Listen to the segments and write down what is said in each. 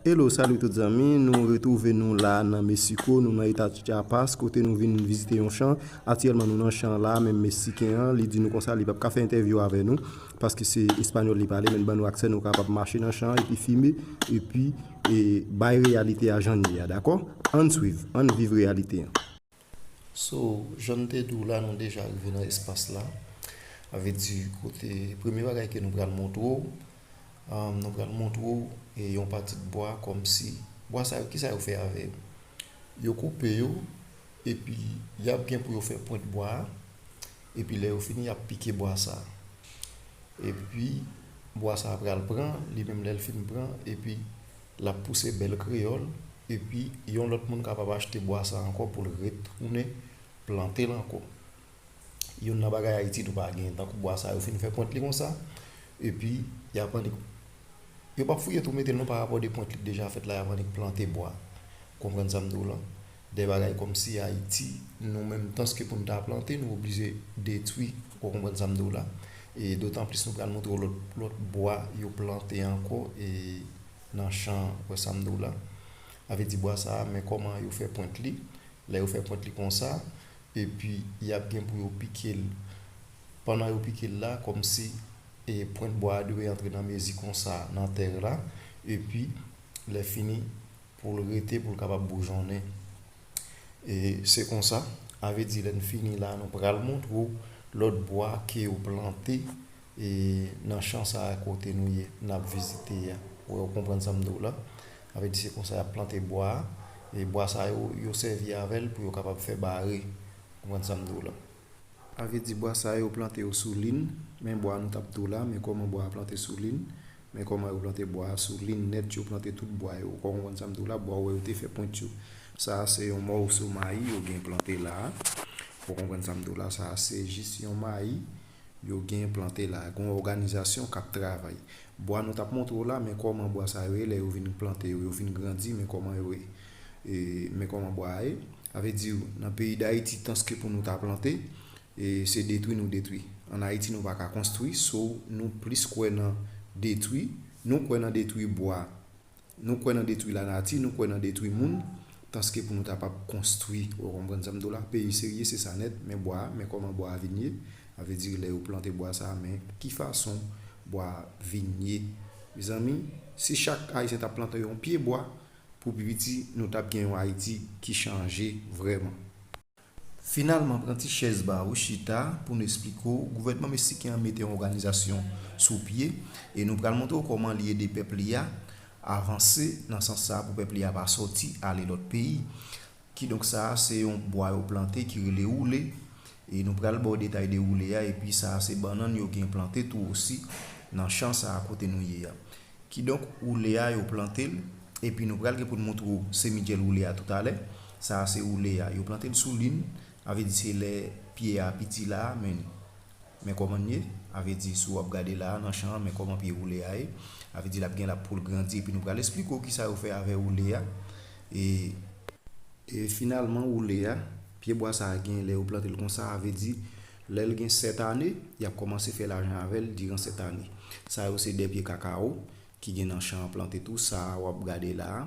Hello salut tout zanmi nou retrouve nou la nan Mexico nou nan eta Chiapas kote nou vin vizite yon chan aktyèlman nou nan chan la men Mexicain an li di nou konsa li pap ka fè entèvyou avè nou paske se español li pale men li ban nou aksè nou kapab mache nan chan epi fime epi bay reyalite a jan li ye a dakò ann swiv ann viv reyalite an. So, jan m te di w la, nou deja rive nan espas la. A vle di kote, premye bagay ke nou pral montre w, nou pral montre w e yon pati bwa kòm si, bwa sa yo ki sa yo fè avè yo? Yo koupe yo epi y ap gen pou yo fè pwent bwa a, epi lè yo fini y ap pike bwa sa. Epi bwa sa pral pran, li menm lè l fin pran epi L ap pouse bèl kreyòl epi yon lòt moun kapab achte bwa sa ankò pou l retounen plante l ankò. Youn nan bagay Ayiti tou pa gen, tankou bwa sa yo fin fè pwent li konsa epi y ap annik, yo p ap fouye tou mete l non parapò de pwent li k deja fèt la y ap annik plante bwa. Ou konprann sa m di w lan? Dè bagay kòmsi Ayiti nou menm tanske pou n ta plante nou oblije detwi ou konprann sa m di w la e dotan plis nou pral montre w lòt lòt bwa yo plante ankò e nan chan ou wè sa m di w la a vle di bwa sa a men kòman yo fè pwent li lè yo fè pwent li konsa epi y ap gen pou yo pike l pandan yo pike l la kòmsi e pwent bwa a dwe antre nan mezi konsa nan tè la epi lè fini. pou l rete, pou l kapab boujonnen. E se konsa, ave di lè n fini la, nou pral montre w lòt bwa ke yo plante e nan chan sa a kote nou ye, n ap vizite a. Ou wè, ou konprann sa m di w la? Ave di se konsa y ap plante bwa a. E bwa sa yo, yo sèvi avè l pou yo kapab fè bare. Ou konprann sa m di w la? A vle di bwa sa yo plante yo sou lin, men bwa nou tap tou la, men kòman bwa a plante sou lin, men kòman yo plante bwa a sou lin nèt yo plante tout bwa yo, ou konprann sa m di w la, bwa ou wè yo te fè pwent yo, sa a se yon mòso mayi yo gen plante la a, ou konprann sa m di w la, sa a se jis yon mayi yo gen plante la a, gen yon òganizasyon k ap travay. Bwa nou tap montre w la, men kòman bwa sa yo ye lè yo vin plante yo, yo vin grandi men kòman yo ye, men kòman bwa a ye. Sa vle di nan peyi dayiti tanske pou nou ta plante se detwi nou detwi. An ayiti nou pa ka konstwi so nou plis kwè nan detwi, nou kwè nan detwi bwa, nou kwè nan detwi lanati, nou kwè nan detwi moun tanske pou nou ta pap konstwi ou konprann sa m di w la. Peyi serye se sa nèt men bwa a men kòman bwa a vin ye sa vle di lè yo plante bwa sa a men ki fason bwa a vin ye mezanmi si chak ayisyen ta plante yon pye bwa Pou pi piti nou tap gen yon Ayiti ki chanje vrèman. Finalman pran ti chèz ba ou chita pou nou esplike w gouvènman meksiken an mete yon òganizasyon sou pye e nou pral montre w kòman li ede pèp li a avanse nan sans sa pou pèp li a pa sòti ale lòt peyi. Kidonk sa a se yon bwa yo plante ki rele woule e nou pral ba w detay de woule a epi sa a se bannann yo gen plante tou osi nan chan sa a kote nou ye a. Kidonk woule a yo plante l epi nou pral gen pou n montre w semidjèl woule a toutalè. Sa a se woule a. Yo plante l sou lin, sa vle di se lè pye a piti la a men Men kòman n ye, a ve di si w ap gade la a nan chan an men kòman pye woule a ye, a ve di l ap gen l ap pou l grandi epi nou pral esplike w kisa yo fè avè woule a e. E finalman woule a, pye bwa sa a gen lè yo plante l konsa a ve di lè l gen 7 ane y ap kòmanse fè lajan avè l diran 7 ane. Sa yo se 2 pye kakawo ki gen nan chan an plante tou sa a w ap gade la a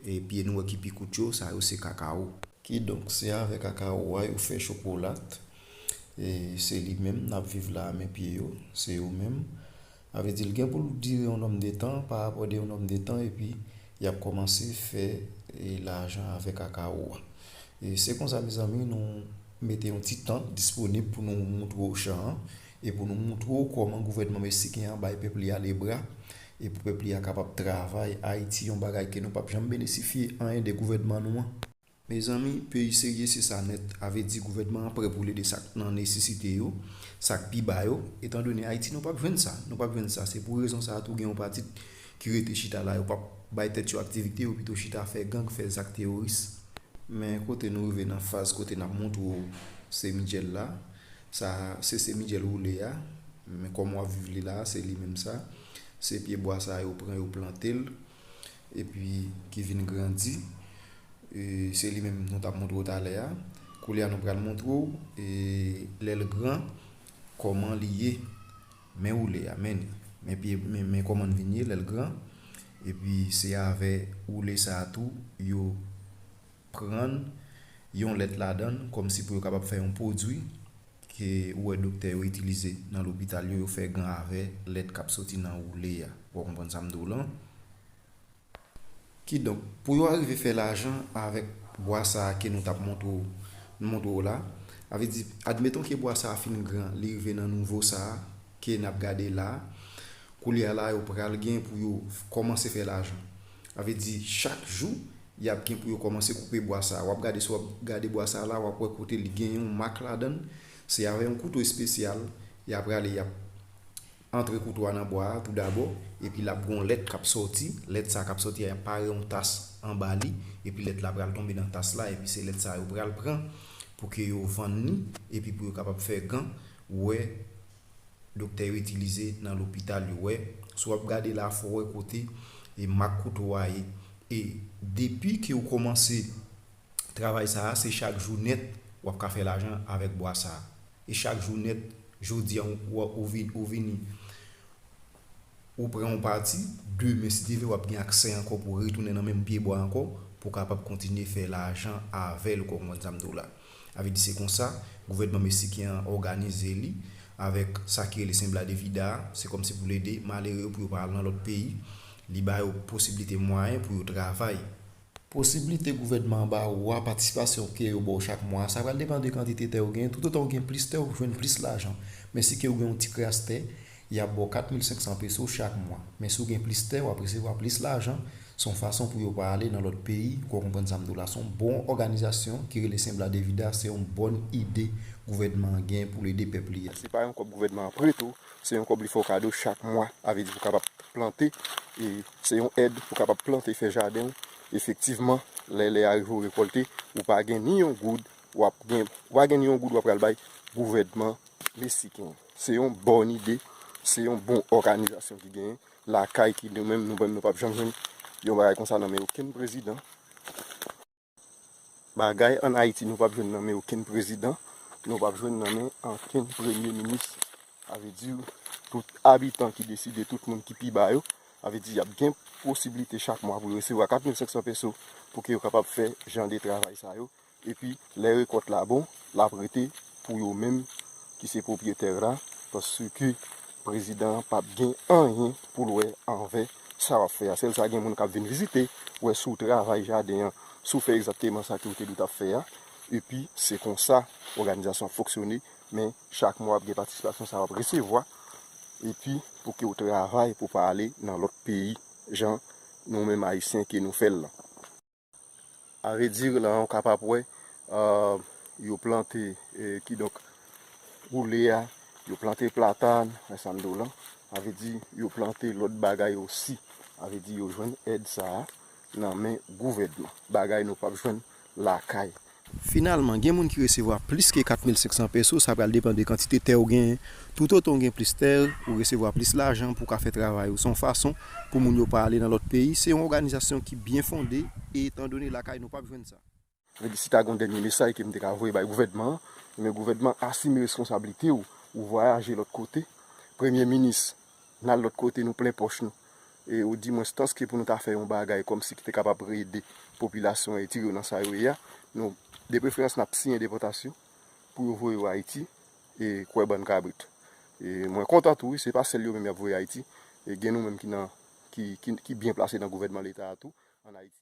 e pye nou wè ki pi kout yo sa yo se kakawo. Kidonk se avè kakawo a yo fè chokolat. E se li menm nap viv la a men pye yo, se yo menm. A vle di l gen pou l dire yon nòm de tan, pa rapò de yon nòm de tan epi y ap kòmanse fè lajan avèk akawo a. E se konsa mezanmi nou mete yon ti tan disponib pou nou montre w chan an e pou nou montre w kòman gouvènman mesiken an bay pèp li a le bra e pou pèp li a kapab travay Ayiti yon bagay ke nou pap janm benesifye anyen de gouvènman nou an. Mezanmi peyi serye se sa nèt ave di gouvènman an prè pou l ede sak nan nesesite yo, sak pi ba yo, etan done Ayiti nou pap jwenn sa, nou pap jwenn sa se pou rezon sa tou gen yon pati ki rete chita la yo pap bay tèt yo aktivite yo pito chita fè gang fè zak teworis. Men kote nou rive nan faz kote nap montre w se Mitchell la sa se se Mitchell woule a men kòman wap viv li la se li menm sa se pye bwa sa yo pran yo plante l epi ki vin grandi se li menm nou tap montre w talè a koulye a nou pral montre w lè l gran kòman li ye men woule a men li men kòman li vin ye lè l gran epi se avè woule sa a tou yo pran yon lèt ladan l kòmsi pou yo kapab fè yon pwodui ke ou wè doktè yo itilize nan lopital yo, yo fè gan avè lèt k ap soti nan woule a. Ou konprann sa m di w lan? Kidonk, pou yo arive fè lajan avèk bwa sa a ke nou t ap montre w, m montre w la, sa vle di, admeton ke bwa sa a fin gran, li rive nan nouvo sa a ke n ap gade la a, koulye a la yo pral gen pou yo kòmanse fè lajan. Sa vle di chak jou yap gen pou yo kòmanse koupe bwa sa a. Wap gade si wap gade bwa sa a la wap wè kote li gen yon mak ladann. Se avè yon kouto espesyal ya prale yap antre kouto a nan bwa a tou dabò epi lap gen yon lèt kap sòti. Lèt sa a kap sòti a yap pare yon tas anba li epi lèt la pral tonbe nan tas la epi se lèt sa a yo pral pran pou ke yo vann li epi pou yo kapab fè gan. Ou wè doktè yo itilize nan lopital yo wè, si w ap gade la fò w wè kote mak kouto a ye e depi ke w kòmanse travay sa a se chak jou nèt w ap ka fè lajan avèk bwa sa a e chak jou nèt jodi an ou vini ou pran yon pati, demen si Dye vle wap gen aksè ankò pou retounen nan menm pye bwa ankò pou kapab kontinye fè lajan avèl ou konprann sa m di w la. A vle di se konsa gouvènman mesiken an òganize li avèk sa ki rele Sembla de Vida a, se kòmsi pou l ede malere yo pou yo pa al nan lòt peyi, li ba yo posiblite mwayen pou yo travay. Posiblite gouvènman an ba ou a, patisipasyon ke yo ba w chak mwa a, sa pral depan de kantite tè ou genyen. Toutotan ou gen plis tè, ou jwenn plis lajan. Men si ke ou gen yon ti kras tè, y ap ba w 4,500 peso chak mwa. Men si w gen plis tè, w ap resevwa plis lajan. Se yon fason pou yo pa ale nan lòt peyi, ou ka konprann sa m di w la. Se yon bon òganizasyon ki rele Sembla Devida, se yon bòn ide gouvènman an genyen pou l ede pèp li a. Se pa yon kòb gouvènman an prete ou, se yon kòb li fè w kado chak mwa. A vle di pou w kapab plante e. Se yon èd pou kapab plante, fè jaden w. Efektivman, lè lè a rive ou rekòlte, ou pa gen ni yon goud w ap gen, ou pa gen ni yon goud w ap pral bay gouvènman mesiken. Se yon bòn ide, se yon bon òganizasyon ki genyen lakay ki nou menm nou menm nou p ap janm jwenn yon bagay konsa nan men okenn prezidan. Bagay an Ayiti nou pap jwenn nan men okenn prezidan, nou pap jwenn nan men ankenn premye minis. Sa vle di tout abitan ki deside, tout moun ki pi ba yo, sa vle di y ap gen posiblite chak mwa pou yo resevwa 4500 peso pou ke yo kapab fè jan de travay sa yo. Epi lè rekòt la bon, l ap rete pou yo menm ki se pwopyetè la paske prezidan an pap gen anyen pou l wè anvè. Sa wap fè a sèl sa gen moun kap vin vizite wè si w travay jaden an, si w fè egzakteman sa ke w te dwe tap fè a, epi se konsa òganizasyon ap fonksyone, men chak mwa ap gen patisipasyon sa wap resevwa, epi pou ke w travay pou pa ale nan lòt peyi jan nou menm ayisyen ke nou fè l lan. A ve dire la ou kapab wè yo plante ki donk ou le a yo plante platan nan sa mdo lan a ve di yo plante lòt bagay ou si a ve di yo jwenn èd sa nan men gouvèdman bagay nou pap jwenn lakay Finalman, gen moun ki resevwa plis ke 4,500 peso, sa pral depan de kantite tè ou genyen. Toutotan ou gen plis tè, ou resevwa plis lajan pou w ka fè travay ou. Se yon fason pou moun yo pa ale nan lòt peyi. Se yon òganizasyon ki byen fonde e etandone lakay nou pap jwenn sa. Ebyen si ta gen yon dènye mesaj ke m te ka voye bay gouvènman an, ebyen gouvènman asime reskonsablite w, ou vwayaje lòt kote. Premye minis N al lòt kote, nou plen pòch nou. E ou di mwens tanske pou nou ta fè yon bagay kòm si ki te kapab rede popilasyon Eritire yo nan sa yo ye a, nou depreferans n ap siyen depòtasyon pou yo voye yo Ayiti, e kwè bann kabrit. E mwen kontan tou wi, se pa sèl yo menm y ap voye Ayiti, e gen nou menm ki nan, ki, ki byen plase nan gouvènman leta a tou, ann Ayiti.